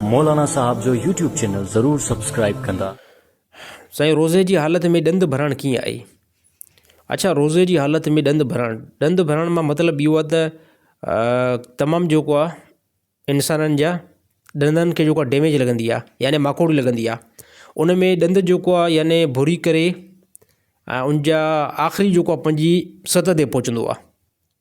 مولانا صاحب جو YouTube channel ضرور سبسڪرائيب ڪندا. سائين روزي جي حالت ۾ ڏند ڀرڻ ڪيئن آهي. اڇا روزي جي حالت ۾ ڏند ڀرڻ ڏند ڀرڻ مان مطلب اهو آهي ته تمام جيڪو آهي انسانن جا ڏندن کي جيڪو آهي ڊيميج لڳندي آهي يعني ماڪوڙي لڳندي آهي ان ۾ ڏند جيڪو آهي يعني ڀوري ڪري ان جا آخري جيڪو آهي پنجين ست تي پهچندو آهي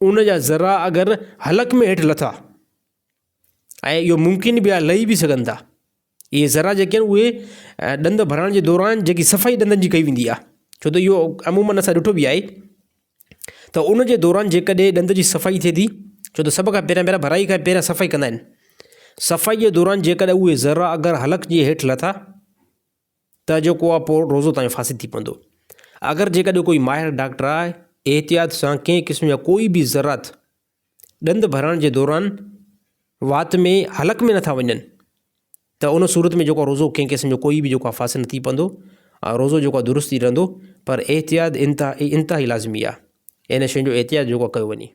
ان جا ذرا اگر حلق ۾ هيٺ لٿا ۽ اهو ممڪن به آهي لهي به سگهن ٿا. اهي ذرا جيڪي آهن اهي ڏند ڀرائڻ جي دوران جيڪي صفائي ڏندن جي ڪئي ويندي آهي ڇو ته اهو عمومن اسان ڏٺو به آهي ته ان جي دوران جيڪڏهن ڏند جي صفائي ٿئي ٿي ڇو ته سڀ کان پهريان پهريان ڀرائي کان پهريان صفائي ڪندا آهن صفائي جي دوران جيڪڏهن اهي ذرا اگر حلق جي هيٺ لٿا ته جو ڪو اپو روزو تائين فاسد ٿي پوندو. اگر جيڪڏهن ڪوئي ماهر ڊاڪٽر آء احتياط سان ڪنهن قسم جا ڪوئي به ذرات ڏند ڀرڻ جي دوران وات ۾ حلق ۾ نٿا وڃن ته ان صورت ۾ جيڪو روزو ڪنهن قسم جو ڪوئي به جيڪو آء فاسد نه ٿي پوندو ۽ روزو جيڪو آء درست ئي رهندو پر احتياط انتهائي انتهائي لازمي آء ان شين جو احتياط جيڪو آء ڪيو وڃي.